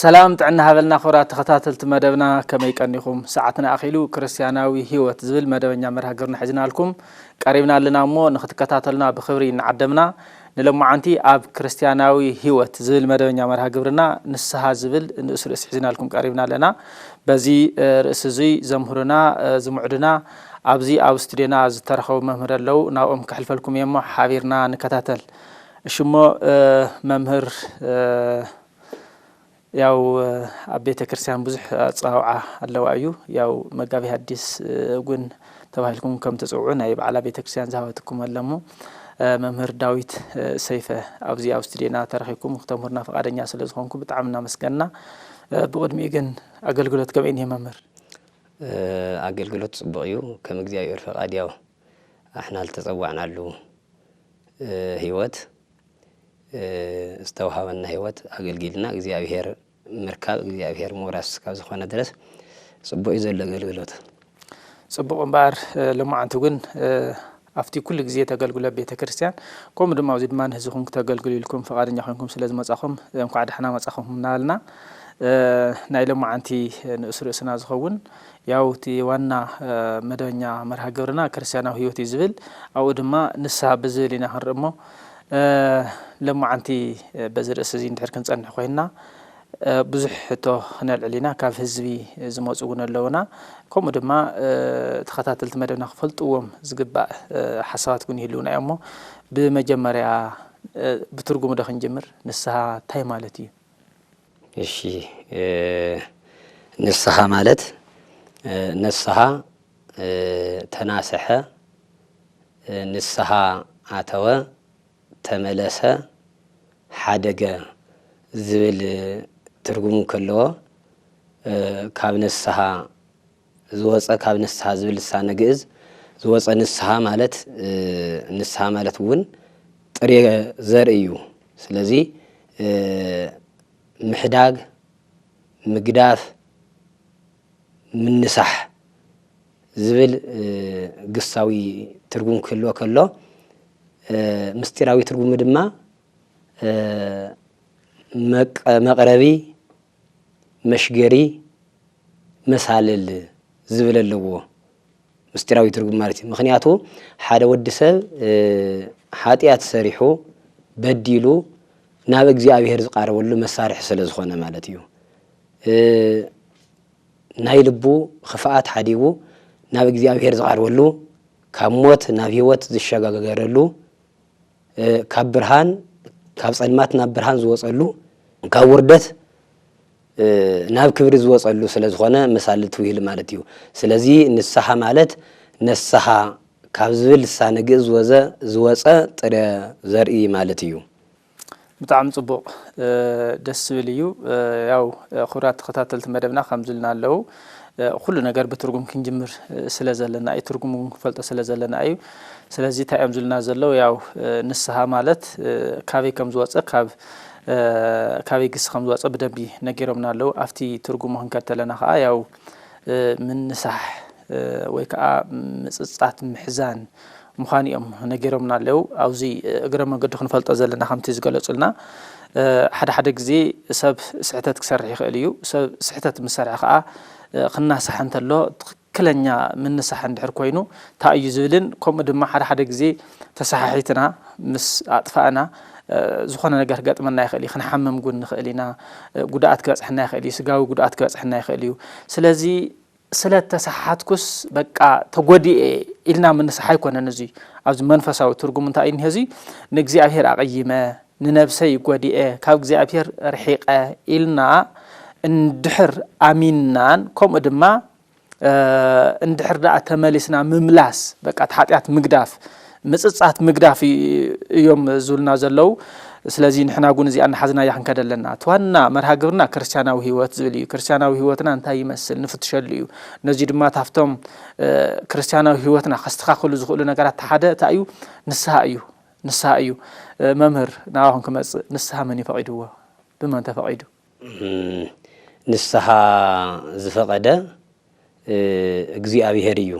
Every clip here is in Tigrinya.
ሰላም ጥዕና ሃበልና ክብራት ተኸታተልቲ መደብና ከመይ ቀኒኹም ሰዓትና ኣኺሉ ክርስትያናዊ ህይወት ዝብል መደበኛ መርሃ ግብርና ሒዝናልኩም ቀሪብና ኣለና እሞ ንክትከታተሉና ብክብሪ እናዓደምና ንሎማዓንቲ ኣብ ክርስትያናዊ ህይወት ዝብል መደበኛ መርሃ ግብርና ንስሃ ዝብል ንእስ ርእሲ ሒዝናልኩም ቀሪብና ኣለና በዚ ርእሲ እዙይ ዘምህሩና ዝምዕዱና ኣብዚ ኣብ ስቱድዮና ዝተረኸቡ መምህር ኣለው ናብኦም ከሕልፈልኩም እየ እሞ ሓቢርና ንከታተል እሺ እሞ መምህር ያው ኣብ ቤተክርስትያን ብዙሕ ኣጸዋውዓ ኣለዋ እዩ ያው መጋቢ ሐዲስ እውን ተባሂልኩም ከም ትጽውዑ ናይ ባዕላ ቤተክርስትያን ዝሃበትኩም ኣለሞ መምህር ዳዊት ሰይፈ ኣብዚ ኣብ ስቱድዮና ተረኺብኩም ክተምህሩና ፈቃደኛ ስለ ዝኾንኩ ብጣዕሚ እናመስገንና ብቕድሚኡ ግን ኣገልግሎት ከመይ እኒሀ መምህር ኣገልግሎት ጽቡቕ እዩ ከም እግዚኣብሔር ፈቃድ ያው ኣሕና ልተጸዋዕናሉ ሕይወት ዝተውሃበና ሕይወት ኣገልጊልና እግዚኣብሔር ምርካብ እግዚኣብሔር ምውራስ ካብ ዝኾነ ድረስ ጽቡቕዩ ዘሎ ኣገልግሎት። ጽቡቕ እምበኣር ሎማዓንቲ እውን ኣብቲ ኩሉ ግዜ ተገልግሎ ኣብ ቤተ ክርስቲያን ከምኡ ድማ ኣብዚ ድማ ንህዝብኩም ክተገልግሉ ኢልኩም ፈቃደኛ ኮንኩም ስለ ዝመጻኹም እንኳዕ ዳሕና መጻኹም እናበልና ናይ ሎማዓንቲ ንእስ ርእስና ዝኸውን ያው እቲ ዋና መደበኛ መርሃ ግብርና ክርስትያናዊ ህይወት እዩ ዝብል ኣብኡ ድማ ንስሃ ብዝብል ኢና ክንርኢ እሞ ለማዓንቲ በዚ ርእሲ እዚ እንድሕር ክንጸንሕ ኮይንና ብዙሕ ሕቶ ክነልዕል ኢና ካብ ህዝቢ ዝመፁ እውን ኣለውና ከምኡ ድማ ተኸታተልቲ መደብና ክፈልጥዎም ዝግባእ ሓሳባት እውን ይህልውና እዮም እሞ ብመጀመርያ ብትርጉሙ ዶ ክንጅምር ንስሃ እንታይ ማለት እዩ እሺ ንስሓ ማለት ነስሓ ተናሰሐ ንስሓ ኣተወ ተመለሰ ሓደገ ዝብል ትርጉም ከለዎ ካብ ነስሓ ዝወጸ ካብ ንስሃ ዝብል ልሳነ ግእዝ ዝወጸ ንስሃ ማለት ንስሃ ማለት እውን ጥሬ ዘርኢ እዩ። ስለዚ ምሕዳግ፣ ምግዳፍ፣ ምንሳሕ ዝብል ግሳዊ ትርጉም ክህልዎ ከሎ ምስጢራዊ ትርጉሙ ድማ መቅረቢ መሽገሪ መሳልል ዝብል ኣለዎ ምስጢራዊ ትርጉም ማለት እዩ ምክንያቱ ሓደ ወዲ ሰብ ሓጢኣት ሰሪሑ በዲሉ ናብ እግዚኣብሄር ዝቃረበሉ መሳርሒ ስለ ዝኾነ ማለት እዩ ናይ ልቡ ክፍኣት ሓዲጉ ናብ እግዚኣብሄር ዝቃርበሉ ካብ ሞት ናብ ህይወት ዝሸጋገረሉ ካብ ብርሃን ካብ ጸልማት ናብ ብርሃን ዝወጸሉ ካብ ውርደት ናብ ክብሪ ዝወጸሉ ስለ ዝኾነ መሳሊ ትውሂል ማለት እዩ። ስለዚ ንስሓ ማለት ነስሓ ካብ ዝብል ልሳነ ግእዝ ወዘ ዝወጸ ጥረ ዘርኢ ማለት እዩ። ብጣዕሚ ጽቡቅ ደስ ዝብል እዩ ያው ክብራት ተከታተልቲ መደብና ከምዚ ኢልና ኣለው ኩሉ ነገር ብትርጉም ክንጅምር ስለ ዘለና እዩ ትርጉም እውን ክንፈልጦ ስለ ዘለና እዩ ስለዚ እንታይ እዮም ዝብልና ዘለው ያው ንስሃ ማለት ካበይ ከም ዝወጸ ካብ ካበይ ግሲ ከም ዝወጸ ብደንቢ ነጊሮምና ኣለው ኣብቲ ትርጉሙ ክንከድ ተለና ከዓ ያው ምንሳሕ ወይ ከዓ ምጽጻት ምሕዛን ምዃኑ እዮም ነጊሮምና ኣለው። ኣብዚ እግረ መንገዱ ክንፈልጦ ዘለና ከምቲ ዝገለጹልና ሓደ ሓደ ግዜ ሰብ ስሕተት ክሰርሕ ይኽእል እዩ። ሰብ ስሕተት ምስ ሰርሐ ከኣ ክናሳሕ እንተሎ ትኽክለኛ ምንሳሕ እንድሕር ኮይኑ ታይ እዩ ዝብልን ከምኡ ድማ ሓደ ሓደ ግዜ ተሰሓሒትና ምስ ኣጥፋእና ዝኾነ ነገር ክገጥመና ይኽእል እዩ። ክንሓምም እውን ንኽእል ኢና። ጉድኣት ክበጽሐና ይኽእል እዩ። ስጋዊ ጉድኣት ክበጽሐና ይኽእል እዩ። ስለዚ ስለ እተሳሓትኩስ በቃ ተጐዲኤ ኢልና ምንሳሕ ኣይኰነን እዙይ። ኣብዚ መንፈሳዊ ትርጉሙ እንታይ እዩ እኒሀ እዙይ? ንእግዚኣብሔር ኣቕይመ፣ ንነብሰይ ጐዲኤ፣ ካብ እግዚኣብሔር ርሒቐ ኢልና እንድሕር ኣሚንናን ከምኡ ድማ እንድሕር ደኣ ተመሊስና ምምላስ በቃ እቲ ሓጢኣት ምግዳፍ ምጽጻት ምግዳፍ እዮም ዝብሉና ዘለዉ ስለዚ ንሕና ጉን እዚኣ እናሓዝናያ ክንከደ ኣለና እቲ ዋና መርሃ ግብርና ክርስትያናዊ ህይወት ዝብል እዩ ክርስትያናዊ ህይወትና እንታይ ይመስል ንፍትሸሉ እዩ ነዚ ድማ ታፍቶም ክርስትያናዊ ህይወትና ከስተኻኽሉ ዝኽእሉ ነገራት ተሓደ እንታይ እዩ ንስሃ እዩ ንስሃ እዩ መምህር ናባኹም ክመጽእ ንስሃ መን እዩ ፈቒድዎ ብመን ተፈቒዱ ንስሃ ዝፈቐደ እግዚኣብሄር እዩ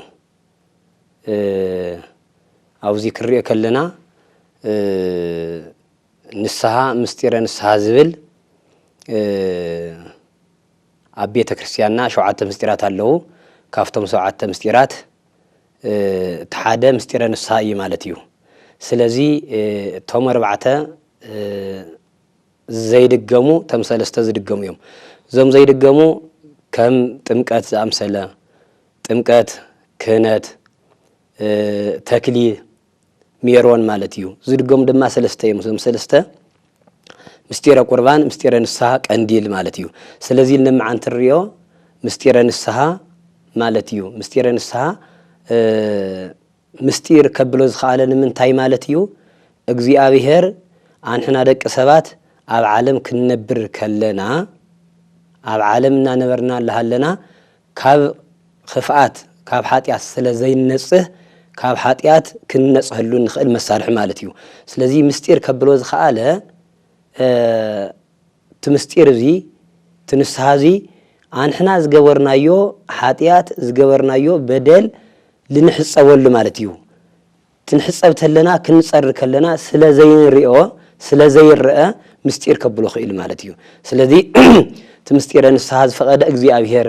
ኣብዚ ክንሪኦ ከለና ንስሃ ምስጢረ ንስሃ ዝብል ኣብ ቤተ ክርስቲያንና ሸውዓተ ምስጢራት ኣለዉ። ካብቶም ሸውዓተ ምስጢራት እቲ ሓደ ምስጢረ ንስሃ እዩ ማለት እዩ። ስለዚ እቶም ኣርባዕተ ዘይድገሙ እቶም ሰለስተ ዝድገሙ እዮም። እዞም ዘይድገሙ ከም ጥምቀት ዝኣምሰለ፣ ጥምቀት፣ ክህነት፣ ተክሊ፣ ሜሮን ማለት እዩ። ዝድገሙ ድማ ሰለስተ እዮም። እዞም ሰለስተ ምስጢረ ቁርባን፣ ምስጢረ ንስሃ፣ ቀንዲል ማለት እዩ። ስለዚ ንመዓንቲ ንሪኦ ምስጢረ ንስሃ ማለት እዩ። ምስጢረ ንስሃ ምስጢር ከብሎ ዝኸኣለ ንምንታይ ማለት እዩ? እግዚኣብሔር ኣንሕና ደቂ ሰባት ኣብ ዓለም ክንነብር ከለና ኣብ ዓለም እናነበርና እላሃለና ካብ ኽፍኣት ካብ ሓጢኣት ስለ ዘይንነጽህ ካብ ሓጢኣት ክንነጽሀሉ እንኽእል መሳርሒ ማለት እዩ። ስለዚ ምስጢር ከብሎ ዝኸኣለ እቲ ምስጢር እዚ፣ እቲ ንስሓ እዚ፣ ኣንሕና ዝገበርናዮ ሓጥያት፣ ዝገበርናዮ በደል ልንሕጸበሉ ማለት እዩ። ክንሕጸብ ተለና፣ ክንጸሪ ከለና ስለ ዘይንርእዮ፣ ስለ ዘይረኣ ምስጢር ከብሎ ክኢሉ ማለት እዩ። ስለዚ እቲ ምስጢረ ንስሓ ዝፈቐደ እግዚኣብሔር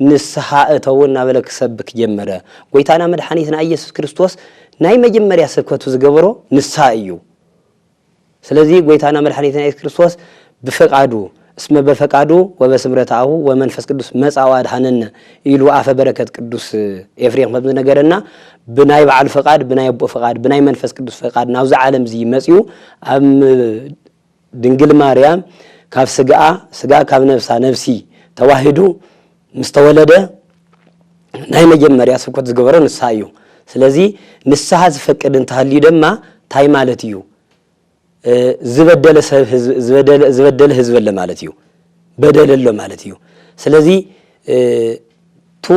ንስሓ እተዉ እናበለ ክሰብክ ጀመረ። ጐይታና መድሓኒትና እየሱስ ክርስቶስ ናይ መጀመርያ ስብከቱ ዝገበሮ ንስሓ እዩ። ስለዚ ጐይታና መድሓኒትና እየሱስ ክርስቶስ ብፍቃዱ እስመ በፈቃዱ ወበስምረት ኣሁ ወመንፈስ ቅዱስ መጽኣ ወኣድኀነነ ኢሉ ኣፈ በረከት ቅዱስ ኤፍሬም ከም ዝነገረና ብናይ ባዕሉ ፍቃድ ብናይ ኣቦኡ ፍቃድ ብናይ መንፈስ ቅዱስ ፍቃድ ናብዚ ዓለምዚ መጽኡ ኣብ ድንግል ማርያም ካብ ስግኣ ስጋ ካብ ነብሳ ነብሲ ተዋሂዱ ምስ ተወለደ ናይ መጀመርያ ስብከት ዝገበሮ ንስሃ እዩ። ስለዚ ንስሃ ዝፈቅድ እንተሃልዩ ደማ ታይ ማለት እዩ ዝበደለ ሰብ ዝበደለ ህዝቢ ኣለ ማለት እዩ በደል ኣሎ ማለት እዩ ስለዚ ቱ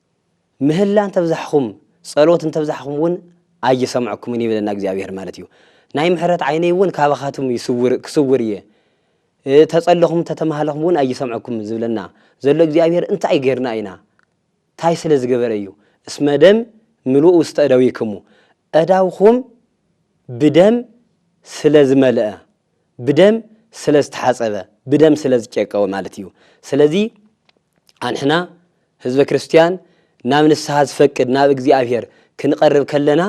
ምህላ እንተብዛሕኹም ጸሎት እንተብዛሕኹም እውን ኣይሰምዐኩምን ይብለና እግዚኣብሔር ማለት እዩ ናይ ምሕረት ዓይነይ እውን ካባኻትም ይስውር ክስውር እየ ተጸለኹም ተተማሃለኹም እውን ኣይሰምዐኩምን ዝብለና ዘሎ እግዚኣብሔር እንታይ ገርና ኢና ታይ ስለ ዝገበረ እዩ እስመ ደም ምሉእ ውስተ እደዊክሙ እዳውኹም ብደም ስለ ዝመልአ ብደም ስለ ዝተሓጸበ ብደም ስለ ዝጨቀወ ማለት እዩ ስለዚ ኣንሕና ህዝበ ክርስትያን ናብ ንስሓ ዝፈቅድ ናብ እግዚኣብሔር ክንቐርብ ከለና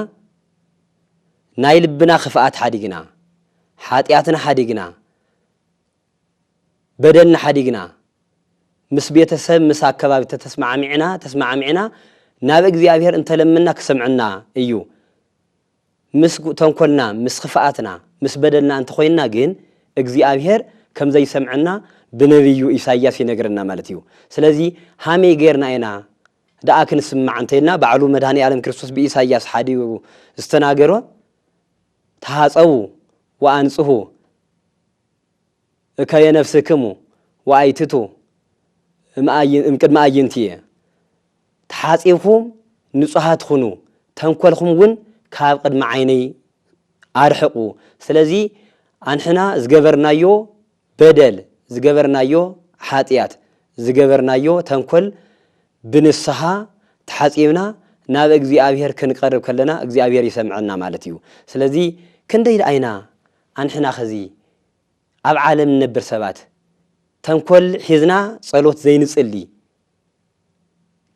ናይ ልብና ክፍኣት ሓዲግና ሓጢኣትና ሓዲግና በደልና ሓዲግና ምስ ቤተሰብ ምስ ኣከባቢ ተተስማዕሚዕና ተስማዕሚዕና ናብ እግዚኣብሔር እንተለምና ክሰምዕና እዩ ምስ ተንኮልና ምስ ኽፍኣትና ምስ በደልና እንተኾይንና ግን እግዚኣብሄር ከምዘይሰምዐና ብነብዩ ኢሳይያስ ይነግረና ማለት እዩ ስለዚ ሃመይ ገይርና ኢና ደኣ ክንስማዕ እንተይልና ባዕሉ መድኃኒኣለም ክርስቶስ ብኢሳይያስ ሓዲሩ ዝተናገሮ ተሃጸቡ ወኣንጽሁ እከየ ነፍስክሙ ወኣይትቱ እምቅድሚ ኣዕይንትየ ተሓጺብኩም ንጹሃት ኹኑ፣ ተንኮልኩም እውን ካብ ቕድሚ ዓይነይ ኣርሕቑ። ስለዚ ኣንሕና ዝገበርናዮ በደል፣ ዝገበርናዮ ሓጢኣት፣ ዝገበርናዮ ተንኮል ብንስሃ ተሓጺብና ናብ እግዚኣብሄር ክንቀርብ ከለና እግዚኣብሄር ይሰምዐና ማለት እዩ። ስለዚ ክንደይ ደኣ ኢና ኣንሕና ኸዚ ኣብ ዓለም ንነብር ሰባት ተንኮል ሒዝና ጸሎት ዘይንጽሊ፣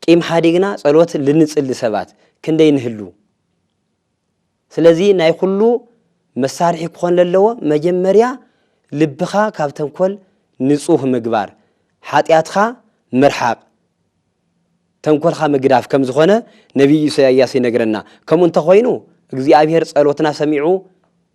ቂም ሓዲግና ጸሎት ልንጽሊ ሰባት ክንደይ ንህሉ? ስለዚ ናይ ኩሉ መሳርሒ ክኾን ለለዎ መጀመርያ ልብኻ ካብ ተንኮል ንጹህ ምግባር፣ ሓጢኣትካ ምርሓቕ፣ ተንኮልካ ምግዳፍ ከም ዝኾነ ነቢይ ኢሰያያስ ይነግረና። ከምኡ እንተ ኾይኑ እግዚኣብሄር ጸሎትና ሰሚዑ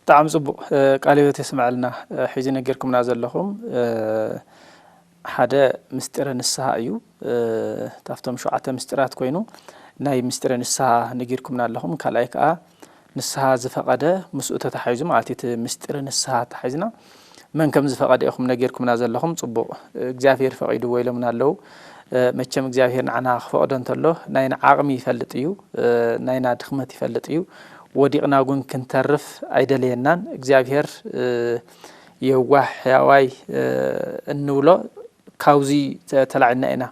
ብጣዕሚ ጽቡቅ ቃለ ህይወት የስመዐልና ሕጂ ነጊርኩምና ዘለኹም ሓደ ምስጢረ ንስሃ እዩ ካብቶም ሸውዓተ ምስጢራት ኮይኑ ናይ ምስጢረ ንስሃ ነጊርኩምና ኣለኹም ካልኣይ ከዓ ንስሃ ዝፈቀደ ምስኡ ተታሒዙ ማለት እቲ ምስጢረ ንስሃ ተታሒዝና መን ከም ዝፈቀደ ኢኩም ነጊርኩምና ዘለኩም ጽቡቅ እግዚኣብሄር ፈቂድዎ ኢሎምና ኣለዉ መቸም እግዚኣብሄር ንዓና ክፈቅዶ እንተሎ ናይና ዓቅሚ ይፈልጥ እዩ ናይና ድክመት ይፈልጥ እዩ ወዲቅና እውን ክንተርፍ ኣይደለየናን እግዚኣብሄር የዋህ ሕያዋይ እንብሎ ካብዚ ተላዒልና ኢና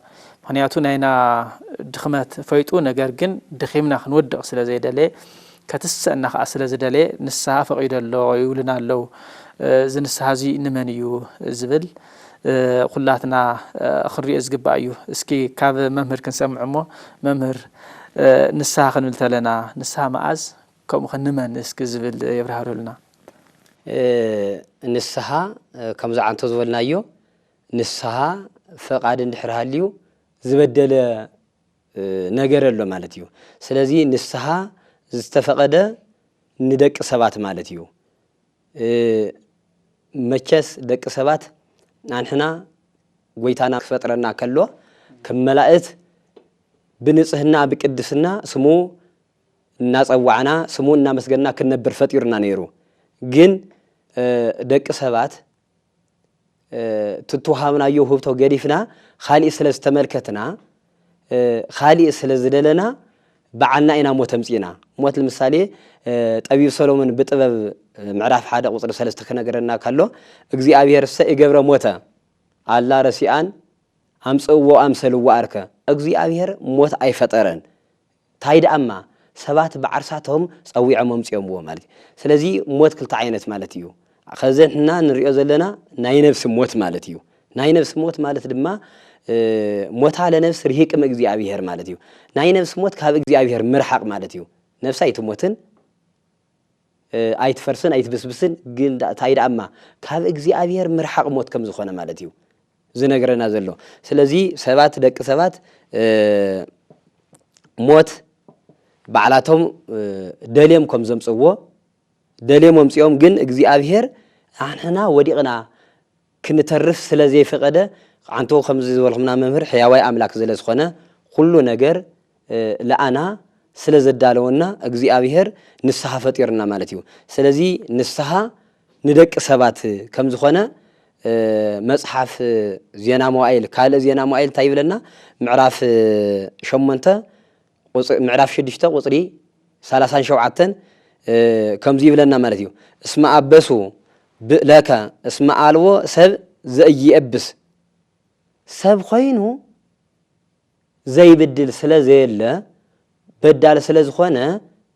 ምክንያቱ ናይና ድክመት ፈይጡ ነገር ግን ደኪምና ክንወድቅ ስለ ዘይደለየ ከትስእና ከኣ ስለ ዝደለየ ንስሃ ፈቂዶ ኣሎ ይብሉና ኣለው እዚ ንስሃ እዚ ንመን እዩ ዝብል ኩላትና ክንሪኦ ዝግባእ እዩ እስኪ ካብ መምህር ክንሰምዕ እሞ መምህር ንስሃ ክንብል ተለና ንስሃ መኣዝ ከምኡ ከ ንመን እስኪ ዝብል የብራህርህሉና። ንስሃ ከም ዝዓንቶ ዝበልናዮ ንስሃ ፈቃድ እንድሕር ሃልዩ ዝበደለ ነገር ኣሎ ማለት እዩ። ስለዚ ንስሃ ዝተፈቐደ ንደቂ ሰባት ማለት እዩ። መቸስ ደቂ ሰባት ኣንሕና ጎይታና ክፈጥረና ከሎ ከም መላእት ብንጽህና ብቅድስና ስሙ እናጸዋዕና ስሙ እናመስገና ክንነብር ፈጢሩና ነይሩ ግን ደቂ ሰባት እቲ እተወሃብናዮ ውህብቶ ገዲፍና ኻሊእ ስለ ዝተመልከትና ኻሊእ ስለ ዝደለና በዓልና ኢና ሞት ኣምፂእና ሞት ንምሳሌ ጠቢብ ሰሎሞን ብጥበብ ምዕራፍ ሓደ ቁፅሪ ሰለስተ ክነገረና ከሎ እግዚኣብሔርሰ ይገብረ ሞተ ኣላ ረሲኣን ኣምፅእዎ ኣምሰልዎ ኣርከ እግዚኣብሔር ሞት ኣይፈጠረን ታይ ደኣማ ሰባት ብዓርሳቶም ጸዊዖም ኣምጺኦምዎ ማለት እዩ ስለዚ ሞት ክልተ ዓይነት ማለት እዩ ከዚ ንሕና ንሪኦ ዘለና ናይ ነብሲ ሞት ማለት እዩ ናይ ነብሲ ሞት ማለት ድማ ሞታ ለነብስ ርሂቅ እምእግዚኣብሄር ማለት እዩ ናይ ነብሲ ሞት ካብ እግዚኣብሄር ምርሓቅ ማለት እዩ ነብሲ ኣይትሞትን ኣይትፈርስን ኣይትብስብስን ግን ዳኣ ታይ ዳኣ እማ ካብ እግዚኣብሔር ምርሓቅ ሞት ከም ዝኮነ ማለት እዩ ዝነግረና ዘሎ ስለዚ ሰባት ደቂ ሰባት ሞት ባዕላቶም ደልዮም ከም ዘምጽዎ ደልዮም ኣምጽኦም ግን እግዚኣብሔር ኣንሕና ወዲቅና ክንተርፍ ስለ ዘይፈቐደ ኣንቱ ከምዚ ዝበልኹምና መምህር ሕያዋይ ኣምላክ ዝለ ዝኾነ ኹሉ ነገር ልኣና ስለ ዘዳለወና እግዚኣብሔር ንስሃ ፈጢሩና ማለት እዩ ስለዚ ንስሃ ንደቂ ሰባት ከም ዝኾነ መጽሓፍ ዜና መዋኢል ካልእ ዜና መዋኢል እንታይ ይብለና ምዕራፍ ሸሞንተ ምዕራፍ ሽዱሽተ ቁጽሪ ሰላሳን ሸውዓተን ከምዚ ይብለና ማለት እዩ እስመ ኣበሱ ብእለከ እስመ ኣልቦ ሰብ ዘኢየብስ ሰብ ኮይኑ ዘይብድል ስለ ዘየለ በዳል ስለ ዝኾነ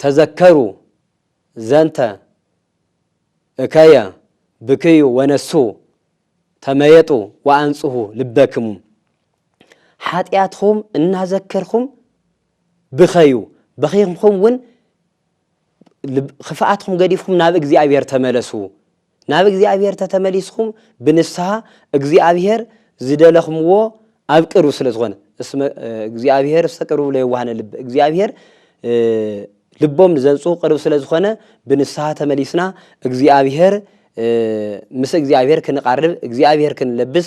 ተዘከሩ ዘንተ እከየ ብክዩ ወነሱ ተመየጡ ወኣንጽሁ ልበክሙ ሓጢኣትኩም እናዘከርኩም ብኸዩ በኺኹም ውን ክፍኣትኩም ገዲፍኩም ናብ እግዚኣብሔር ተመለሱ ናብ እግዚኣብሔር ተተመሊስኹም ብንስሃ እግዚኣብሔር ዝደለኽምዎ ኣብ ቅርብ ስለ ዝኾነ እስመ እግዚኣብሔር ስተቅርቡ ለየዋህነ ልብ እግዚኣብሔር ልቦም ንዘንጹ ቅርብ ስለ ዝኾነ ብንስሃ ተመሊስና እግዚኣብሔር ምስ እግዚኣብሔር ክንቓርብ እግዚኣብሔር ክንለብስ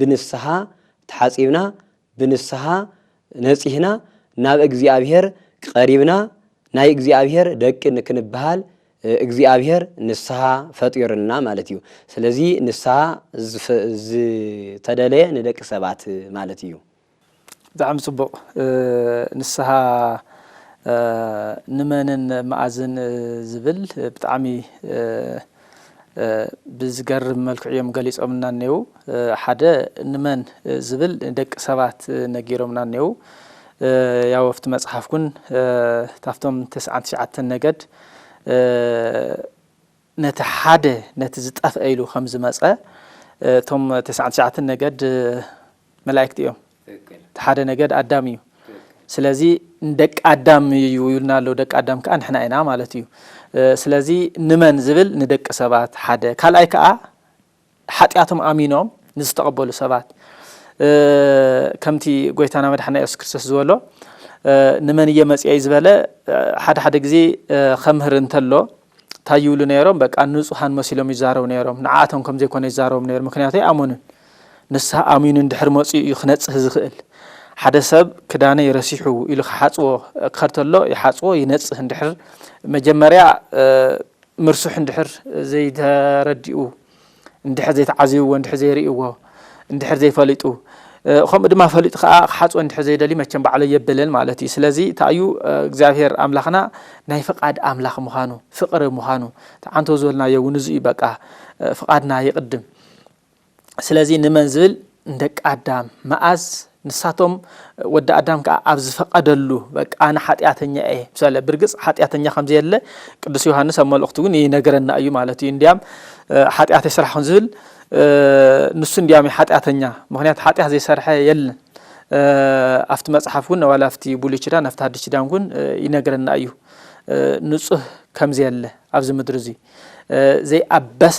ብንስሓ ተሓጺብና ብንስሓ ነጺህና ናብ እግዚኣብሔር ቀሪብና ናይ እግዚኣብሔር ደቂ ክንበሃል እግዚኣብሔር ንስሓ ፈጢሩልና ማለት እዩ። ስለዚ ንስሓ ዝተደለየ ንደቂ ሰባት ማለት እዩ። ብጣዕሚ ጽቡቅ ንስሃ ንመንን መኣዝን ዝብል ብጣዕሚ ብዝገርም መልክዑ እዮም ገሊጾምልና እኔዉ ሓደ ንመን ዝብል ንደቂ ሰባት ነጊሮምና እኔዉ ያው ኣብቲ መጽሓፍ ውን ታፍቶም ተስዓን ትሽዓተን ነገድ ነቲ ሓደ ነቲ ዝጠፍኤ ኢሉ ከም ዝመጸ እቶም ተስዓን ትሽዓተን ነገድ መላኢክት እዮም እቲ ሓደ ነገድ ኣዳም እዩ ስለዚ ንደቂ ኣዳም እዩ ይብልና ኣሎ ደቂ ኣዳም ከዓ ንሕና ኢና ማለት እዩ ስለዚ ንመን ዝብል ንደቂ ሰባት ሓደ ካልኣይ ከዓ ሓጢኣቶም ኣሚኖም ንዝተቐበሉ ሰባት ከምቲ ጎይታና መድሓና የሱስ ክርስቶስ ዝበሎ ንመን እየ መፅኤይ ዝበለ ሓደ ሓደ ግዜ ከምህር እንተሎ እንታይ ይብሉ ነይሮም በቃ ንፁሃን መሲሎም ይዛረቡ ነይሮም ንዓኣቶም ከም ዘይኮነ ይዛረቦም ነይሮም ምክንያቱ ኣይኣመኑን ንስሃ ኣሚኑ እንድሕር መፅኡ እዩ ክነፅህ ዝኽእል ሓደ ሰብ ክዳነይ ረሲሑ ኢሉ ክሓፅዎ ክኸድ ተሎ ይሓፅዎ ይነፅህ እንድሕር መጀመርያ ምርሱሕ እንድሕር ዘይተረዲኡ፣ እንድሕር ዘይተዓዝብዎ፣ እንድሕር ዘይርእይዎ፣ እንድሕር ዘይፈሊጡ፣ ከምኡ ድማ ፈሊጡ ከኣ ክሓጽቦ እንድሕር ዘይደልዩ መቸም ባዕሎ የብልን ማለት እዩ። ስለዚ እንታይ እዩ እግዚኣብሄር ኣምላኽና ናይ ፍቓድ ኣምላኽ ምዃኑ፣ ፍቕሪ ምዃኑ፣ እቲ ዓንተው ዝበልናዮ እውን እዚ እዩ በቃ ፍቓድና ይቕድም። ስለዚ ንመን ዝብል ንደቂ ኣዳም መኣዝ ንሳቶም ወዲ ኣዳም ከዓ ኣብ ዝፈቐደሉ በቃ ኣነ ሓጢኣተኛ እየ ምሳለ ብርግፅ ሓጢኣተኛ ከም ዘየለ ቅዱስ ዮሃንስ ኣብ መልእኽቱ ግን ይነገረና እዩ ማለት እዩ እንዲያም ሓጢኣት የስራሕኹን ዝብል ንሱ እንዲያም እዩ ሓጢኣተኛ ምክንያቱ ሓጢኣት ዘይሰርሐ የለን ኣብቲ መፅሓፍ እውን ዋላ ኣብቲ ብሉይ ኪዳን ኣብቲ ሓድሽ ኪዳን እውን ይነግረና እዩ ንፁህ ከምዘየለ ኣብዚ ምድሪ እዚ ዘይኣበሰ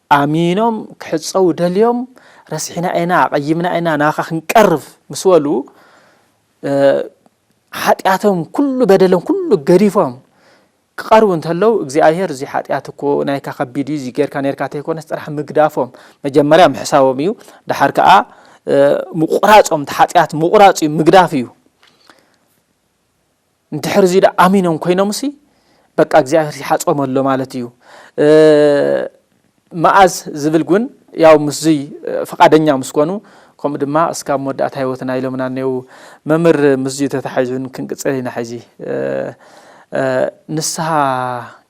ኣሚኖም ክሕጸዉ ደልዮም ረሲሕና ኢና ኣቐይምና ኢና ናባኻ ክንቀርብ ምስ በሉ ሓጢኣቶም ኩሉ በደሎም ኩሉ ገዲፎም ክቐርቡ እንተለዉ እግዚኣብሄር እዚ ሓጢኣት እኮ ናይካ ከቢድ እዩ እዚ ጌርካ ነርካ ተይኮነስ ጥራሕ ምግዳፎም መጀመርያ ምሕሳቦም እዩ ድሓር ከዓ ምቑራጾም እቲ ሓጢኣት ምቑራጽ እዩ ምግዳፍ እዩ እንድሕር እዚ ዳኣ ኣሚኖም ኮይኖምሲ በቃ እግዚኣብሔር ይሓጾም ኣሎ ማለት እዩ መኣዝ ዝብል ግን ያው ምስዙይ ፍቃደኛ ምስ ኮኑ ከምኡ ድማ እስካብ መወዳእታ ህይወትና ኢሎምና እኔዉ መምህር ምስዙይ ተታሒዙን ክንቅጽል ኢና ሕዚ ንስሃ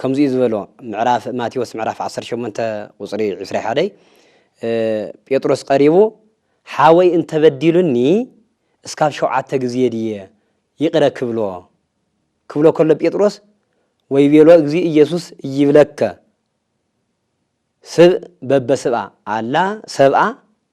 ከምዚ እዩ ዝበሎ ምዕራፍ ማቴዎስ ምዕራፍ ዓሰርተ ሸሞንተ ቁጽሪ ዕስራ ሓደይ ጴጥሮስ ቀሪቡ ሓወይ እንተበዲሉኒ እስካብ ሸውዓተ ግዜ ድየ ይቅረ ክብሎ ክብሎ ከሎ ጴጥሮስ ወይቤሎ እግዚእ ኢየሱስ እይብለከ ስብ በበስብኣ ኣላ ሰብኣ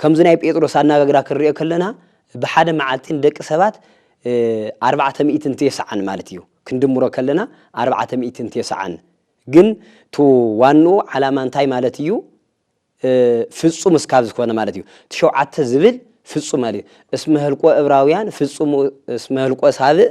ከምዚ ናይ ጴጥሮስ ኣነጋግራ ክንሪኦ ከለና ብሓደ መዓልቲ ንደቂ ሰባት ኣርባዕተ ሚእትን ቴስዓን ማለት እዩ ክንድምሮ ከለና ኣርባዕተ ሚእትን ቴስዓን ግን ቱ ዋንኡ ዓላማ እንታይ ማለት እዩ ፍጹም እስካብ ዝኾነ ማለት እዩ ትሸውዓተ ዝብል ፍጹም ማለት እዩ እስመ ህልቆ እብራውያን ፍጹም እስመ ህልቆ ሳብእ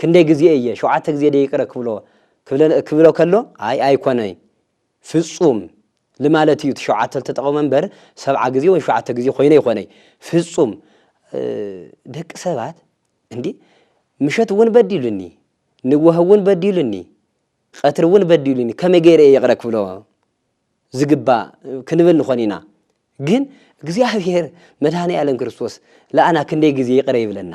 ክንደይ ግዜ እየ ሸውዓተ ግዜ ዶ ይቅረ ክብሎ ክብሎ ከሎ ኣይ ኣይኮነይ ፍጹም ልማለት እዩ እቲ ሸውዓተ ልተጠቀመ እምበር ሰብዓ ግዜ ወይ ሸውዓተ ግዜ ኮይነ ይኮነይ ፍጹም ደቂ ሰባት እንዲ ምሸት እውን በዲሉኒ ንወህ እውን በዲሉኒ ቀትሪ እውን በዲሉኒ ከመይ ገይረ እየ ይቅረ ክብሎ ዝግባእ ክንብል ንኾን ኢና ግን እግዚኣብሔር መድኃኔ ዓለም ክርስቶስ ለኣና ክንደይ ግዜ ይቅረ ይብለና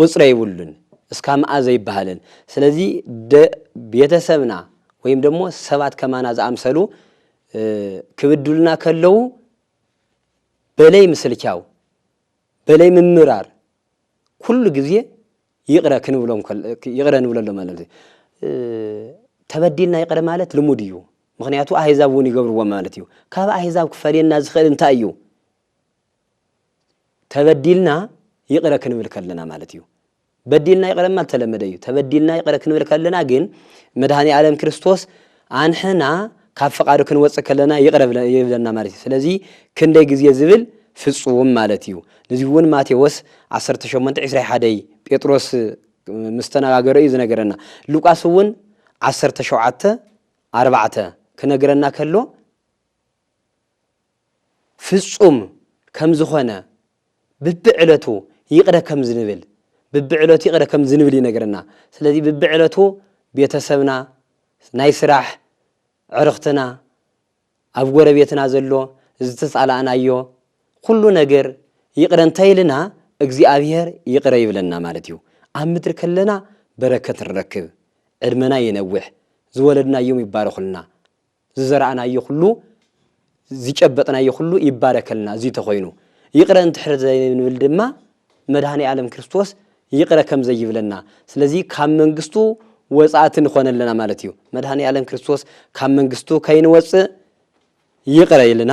ቁጽሪ የብሉን እስካ ምኣ ዘይብሃልን ስለዚ ደ ቤተሰብና ወይም ደሞ ሰባት ከማና ዝኣምሰሉ ክብድሉና ከለዉ በለይ ምስልቻው በለይ ምምራር ኩሉ ግዜ ይቅረ ክንብሎም ይቅረ ንብለሎም ኣለና ተበዲልና ይቅረ ማለት ልሙድ እዩ ምክንያቱ ኣህዛብ እውን ይገብርዎ ማለት እዩ ካብ ኣህዛብ ክፈልየና ዝክእል እንታይ እዩ ተበዲልና ይቕረ ክንብል ከለና ማለት እዩ። በዲልና ይቕረ ምባል ተለመደ እዩ። ተበዲልና ይቕረ ክንብል ከለና ግን መድሃኒ ኣለም ክርስቶስ ኣንሕና ካብ ፍቓዱ ክንወጽእ ከለና ይቕረ ይብለና ማለት እዩ። ስለዚ ክንደይ ግዜ ዝብል ፍጹም ማለት እዩ። እዚ እውን ማቴዎስ 18:21 ጴጥሮስ ምስ ተነጋገረ እዩ ዝነገረና። ሉቃስ እውን 17:4 ክነግረና ከሎ ፍጹም ከም ዝኾነ ብብዕለቱ ይቕረ ከም ዝንብል ብብዕለቱ ይቕረ ከም ዝንብል ይነግረና። ስለዚ ብብዕለቱ ቤተሰብና፣ ናይ ስራሕ ዕርኽትና፣ ኣብ ጎረቤትና ዘሎ ዝተጻላእናዮ ኩሉ ነገር ይቕረ እንተ ኢልና እግዚኣብሄር ይቕረ ይብለና ማለት እዩ። ኣብ ምድሪ ከለና በረከት ንረክብ፣ ዕድመና ይነውሕ፣ ዝወለድናዮም ይባረኹልና፣ ዝዘራእናዮ ኩሉ ዝጨበጥናዮ ኩሉ ይባረከልና እዚ ተኾይኑ ይቅረ እንድሕር ዘይንብል ድማ መድኃኔዓለም ክርስቶስ ይቅረ ከም ዘይብለና ስለዚ ካብ መንግስቱ ወጻእቲ ንኾን ኣለና ማለት እዩ መድኃኔዓለም ክርስቶስ ካብ መንግስቱ ከይንወጽእ ይቅረ ኢልና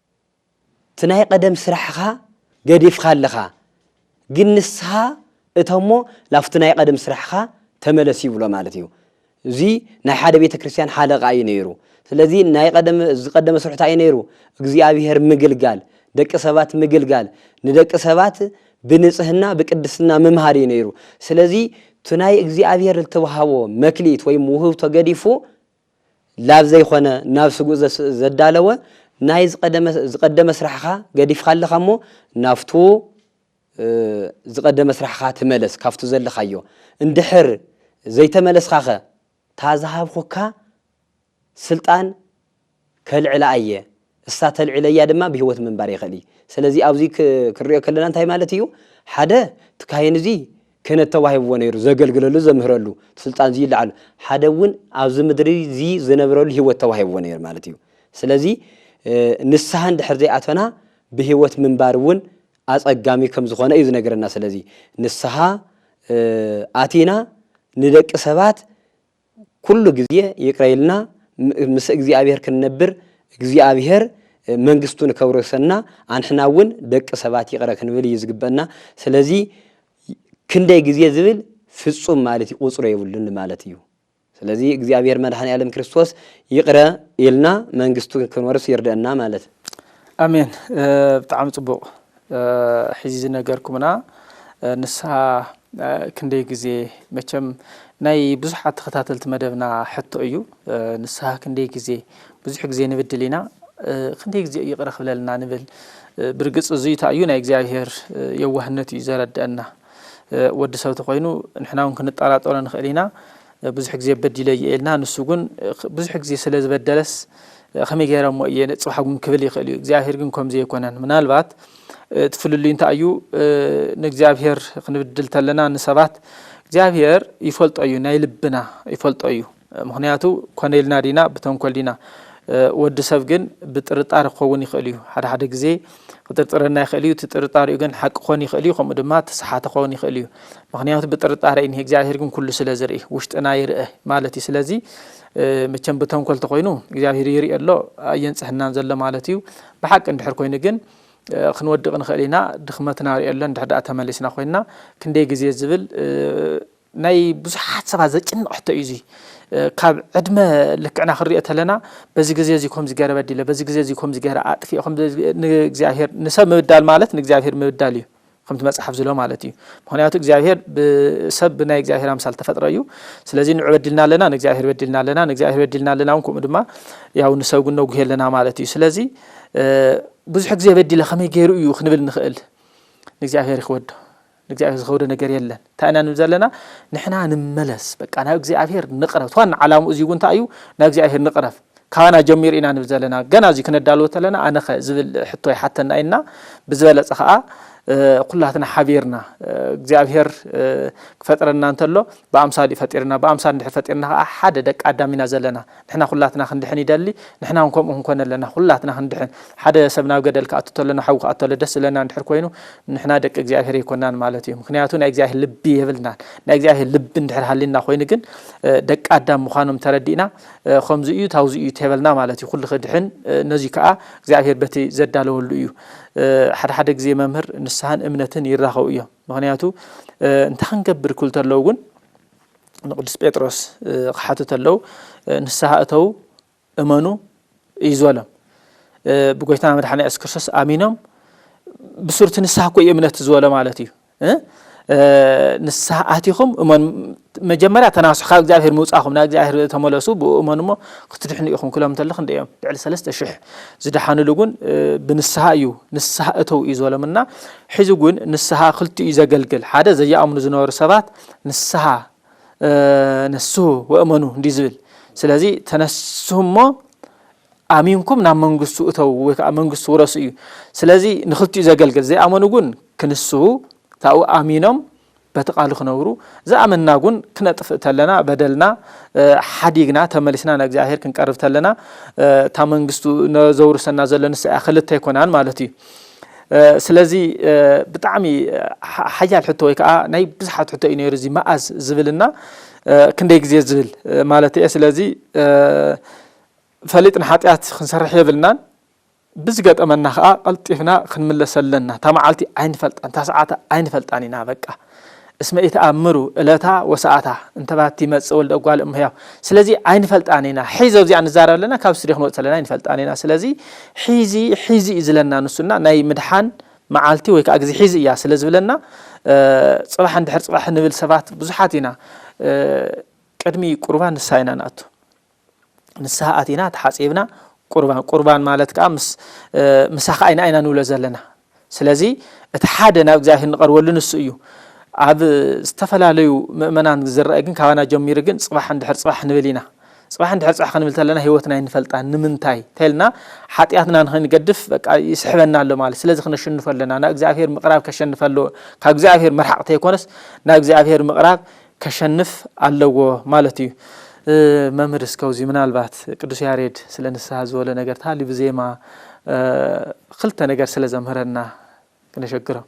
እቲ ናይ ቐደም ስራሕኻ ገዲፍኻ ኣለኻ ግን ንስኻ እቶ እሞ ላብቲ ናይ ቐደም ስራሕኻ ተመለስ ይብሎ ማለት እዩ እዚ ናይ ሓደ ቤተ ክርስቲያን ሓለቓ እዩ ነይሩ ስለዚ ናይ ቐደም ዝቐደመ ስርሑ ታይ ነይሩ እግዚኣብሔር ምግልጋል ደቂ ሰባት ምግልጋል ንደቂ ሰባት ብንጽህና ብቅድስና ምምሃር እዩ ነይሩ ስለዚ እቲ ናይ እግዚኣብሔር ልተውሃቦ መክሊት ወይም ውህብቶ ገዲፉ ላብ ዘይኮነ ናብ ስጉእ ዘዳለወ ናይ ዝቀደመ ስራሕኻ ገዲፍኻ ኣለኻ እሞ ናብቱ ዝቀደመ ስራሕኻ ተመለስ ካብቱ ዘለኻዮ እንድሕር ዘይተመለስኻኸ ታዝሃብኹካ ስልጣን ከልዕላ ኣየ እሳ ተልዕለያ ድማ ብህይወት ምንባር ይኽእል እዩ። ሰለዚ ኣብዚ ክንሪኦ ከለና እንታይ ማለት እዩ ሓደ እቲ ካህን እዚ ክህነት ተዋሂብዎ ነይሩ ዘገልግለሉ ዘምህረሉ ስልጣን እዚ ይለዓሉ ሓደ እውን ኣብዚ ምድሪ እዚ ዝነብረሉ ህይወት ተዋሂብዎ ነይሩ ማለት እዩ። ስለዚ ንስሃ እንድሕር ዘይኣተና ብህይወት ምንባር እውን ኣፀጋሚ ከም ዝኾነ እዩ ዝነግረና። ሰለዚ ንስሃ ኣቲና ንደቂ ሰባት ኩሉ ግዜ ይቅረ ኢልና ምስ እግዚኣብሔር ክንነብር እግዚኣብሔር መንግስቱ ንከውርሰና ኣንሕና እውን ደቂ ሰባት ይቅረ ክንብል እዩ ዝግበእና ስለዚ ክንደይ ግዜ ዝብል ፍፁም ማለት እዩ ቁፅሮ የብሉን ማለት እዩ ስለዚ እግዚኣብሔር መድኃኔዓለም ክርስቶስ ይቅረ ኢልና መንግስቱ ክንወርስ ይርደእና ማለት። ኣሜን ብጣዕሚ ፅቡቅ ሕዚ ዝነገርኩምና ንስሃ ክንደይ ግዜ መቸም ናይ ብዙሓት ተኸታተልቲ መደብና ሕቶ እዩ ንስሃ ክንደይ ግዜ ብዙሕ ግዜ ንብድል ኢና ክንደይ ግዜ ይቕረ ክብለልና ንብል ብርግጽ እዙይ ታዩ ናይ እግዚኣብሄር የዋህነት እዩ ዘረድአና ወዲ ሰብ ተኮይኑ ንሕና እውን ክንጠራጠሮ ንኽእል ኢና ብዙሕ ግዜ በዲለ እየ ኢልና ንሱ ግን ብዙሕ ግዜ ስለ ዝበደለስ ከመይ ገይረ እሞ እየ ንጽባሕ እውን ክብል ይኽእል እዩ እግዚኣብሄር ግን ከምዚ ኣይኮነን ምናልባት እቲ ፍልልዩ እንታይ እዩ ንእግዚኣብሄር ክንብድል ተለና ንሰባት እግዚኣብሄር ይፈልጦ እዩ ናይ ልብና ይፈልጦ እዩ ምክንያቱ ኮነ ኢልና ዲና ብተንኮል ዲና ወዲ ሰብ ግን ብጥርጣረ ክኸውን ይኽእል እዩ ሓደ ሓደ ግዜ ክጥርጥረና ይኽእል እዩ። እቲ ጥርጣሬኡ ግን ሓቂ ክኾን ይኽእል እዩ፣ ከምኡ ድማ ተሰሓተ ክኸውን ይኽእል እዩ። ምክንያቱ ብጥርጣረ እዩ፣ እግዚኣብሄር ግን ኩሉ ስለ ዝርኢ ውሽጥና ይርእ ማለት እዩ። ስለዚ መቸም ብተንኮል ተኾይኑ እግዚኣብሄር ይርኢ ኣሎ ኣየንጽሕናን ዘሎ ማለት እዩ። ብሓቂ እንድሕር ኮይኑ ግን ክንወድቕ ንኽእል ኢና። ድኽመትና ሪኦ ኣሎ እንድሕር ደኣ ተመሊስና ኮይና ክንደይ ግዜ ዝብል ናይ ብዙሓት ሰባት ዘጭንቕ ሕቶ እዩ እዚ ካብ ዕድመ ልክዕና ክንሪኦ ተለና በዚ ግዜ እዚ ከምዚ ገረ በዲለ በዚ ግዜ እዚ ከምዚ ገረ ኣጥፊኤ ንእግዚኣብሄር ንሰብ ምብዳል ማለት ንእግዚኣብሄር ምብዳል እዩ ከምቲ መጽሓፍ ዝሎ ማለት እዩ ምክንያቱ እግዚኣብሄር ብሰብ ብናይ እግዚኣብሄር ኣምሳል ተፈጥረ እዩ ስለዚ ንዑ በዲልና ኣለና ንእግዚኣብሄር በዲልና ኣለና ንእግዚኣብሄር በዲልና ኣለና እውን ከምኡ ድማ ያው ንሰብ ግን ነጉሄ ኣለና ማለት እዩ ስለዚ ብዙሕ ግዜ በዲለ ከመይ ገይሩ እዩ ክንብል ንኽእል ንእግዚኣብሄር ይክወዶ ንእግዚኣብሔር ዝኸብዶ ነገር የለን እንታይ ኢና ንብል ዘለና ንሕና ንመለስ በቃ ናብ እግዚኣብሔር ንቕረብ ዋና ዓላምኡ እዚውን እንታይ እዩ ናብ እግዚኣብሔር ንቕረብ ካባና ጀሚሩ ኢና ንብል ዘለና ገና እዚ ክነዳልዎ ተለና ኣነኸ ዝብል ሕቶ ይሓተና ኢና ብዝበለፀ ከዓ ኩላትና ሓቢርና እግዚኣብሔር ክፈጥረና እንተሎ ብኣምሳል እዩ ፈጢርና ብኣምሳል እንድሕር ፈጢርና ከዓ ሓደ ደቂ ኣዳም ኢና ዘለና ንሕና ኩላትና ክንድሕን ይደሊ ንሕና ውን ከምኡ ክንኮን ኣለና ኩላትና ክንድሕን ሓደ ሰብ ናብ ገደል ክኣቱ ተሎ ናብ ሓዊ ክኣቱ ተሎ ደስ ዝብለና እንድሕር ኮይኑ ንሕና ደቂ እግዚኣብሄር ኣይኮናን ማለት እዩ ምክንያቱ ናይ እግዚኣብሄር ልቢ የብልናን ናይ እግዚኣብሄር ልቢ እንድሕር ሃሊና ኮይኑ ግን ደቂ ኣዳም ምዃኖም ተረዲእና ከምዚ እዩ ታውዚ እዩ ተበልና ማለት እዩ ኩሉ ክድሕን ነዚ ከዓ እግዚኣብሄር በቲ ዘዳለወሉ እዩ ሓደ ሓደ ግዜ መምህር ንስሓን እምነትን ይራኸቡ እዮም ምክንያቱ እንታይ ክንገብር ክብል ተለዉ ግን ንቅዱስ ጴጥሮስ ክሓቱ ተለው ንስሓ እተው እመኑ እዩ ዝበሎም ብጎይታና መድሓና የሱስ ክርስቶስ ኣሚኖም ብሱርቲ ንስሓ እኮ እዩ እምነት ዝበሎ ማለት እዩ ንስሓ ኣቲኹም እመን መጀመርያ ተናሱ ካብ እግዚኣብሄር ምውፃኹም ናብ እግዚኣብሄር ተመለሱ ብኡ እመኑ እሞ ክትድሕኑ ኢኹም ክሎም እንተለኹ እንደ እዮም ልዕሊ ሰለስተ ሽሕ ዝደሓንሉ እውን ብንስሓ እዩ ንስሓ እተው እዩ ዝበሎም እና ሕዚ እውን ንስሓ ክልቲኡ እዩ ዘገልግል ሓደ ዘየኣምኑ ዝነበሩ ሰባት ንስሃ ነስሁ ወእመኑ እንዲዩ ዝብል ስለዚ ተነስሁ እሞ ኣሚንኩም ናብ መንግስቱ እተው ወይ ከዓ መንግስቱ ውረሱ እዩ ስለዚ ንክልቲኡ ዘገልግል ዘይኣመኑ ግን ክንስሁ ካብኡ ኣሚኖም በቲ ቃሉ ክነብሩ ዝኣመና ግን ክነጥፍእ ተለና በደልና ሓዲግና ተመሊስና ንእግዚኣብሄር ክንቀርብ ተለና እታ መንግስቱ ዘውርሰና ዘሎ ንሳ እያ ክልተ ኣይኮናን ማለት እዩ ስለዚ ብጣዕሚ ሓያል ሕቶ ወይ ከዓ ናይ ብዙሓት ሕቶ እዩ ነይሩ እዚ መኣዝ ዝብልና ክንደይ ግዜ ዝብል ማለት እየ ስለዚ ፈሊጥና ሓጢኣት ክንሰርሕ የብልናን ብዝገጠመና ከዓ ቀልጢፍና ክንምለሰ ኣለና እታ መዓልቲ ኣይንፈልጣን እታ ሰዓት ኣይንፈልጣን ኢና በቃ እስመ ኢትኣምሩ እለታ ወሰዓታ እንተ ባቲ ይመጽእ ወልደ እጓለ እም ሕያው ስለዚ ኣይንፈልጣን ኢና ሒዞ እዚኣ ንዛረብ ኣለና ካብ ስድዮ ክንወጽእ ኣለና ኣይንፈልጣን ኢና ስለዚ ሒዚ ሒዚ እዩ ዝለና ንሱና ናይ ምድሓን መዓልቲ ወይ ከዓ ግዜ ሒዚ እያ ስለ ዝብለና ፅባሕ እንድሕር ፅባሕ ንብል ሰባት ብዙሓት ኢና ቅድሚ ቁርባን ንስሓ ኢና ንኣቱ ንስሃ ኣቲና ተሓጺብና ቁርባን ቁርባን ማለት ከዓ ምሳኻ ኣይና ኢና ንብሎ ዘለና ስለዚ እቲ ሓደ ናብ እግዚኣብሄር ንቐርበሉ ንሱ እዩ ኣብ ዝተፈላለዩ ምእመናን ዝረአ ግን ካባና ጀሚሩ ግን ፅባሕ እንድሕር ፅባሕ ንብል ኢና ፅባሕ እንድሕር ፅባሕ ክንብል ተለና ህይወትና ይንፈልጣ ንምንታይ ተልና ሓጢኣትና ንክንገድፍ በቃ ይስሕበና ኣሎ ማለት ስለዚ ክነሸንፎ ኣለና ናብ እግዚኣብሄር ምቕራብ ከሸንፈ ኣለዎ ካብ እግዚኣብሄር መርሓቕ ተይኮነስ ናብ እግዚኣብሄር ምቕራብ ከሸንፍ ኣለዎ ማለት እዩ። መምህር እስከ ኣብዚ ምናልባት ቅዱስ ያሬድ ስለ ንስሃ ዝበሎ ነገር ተሃልዩ ብዜማ ክልተ ነገር ስለ ዘምህረና ክነሸግሮም።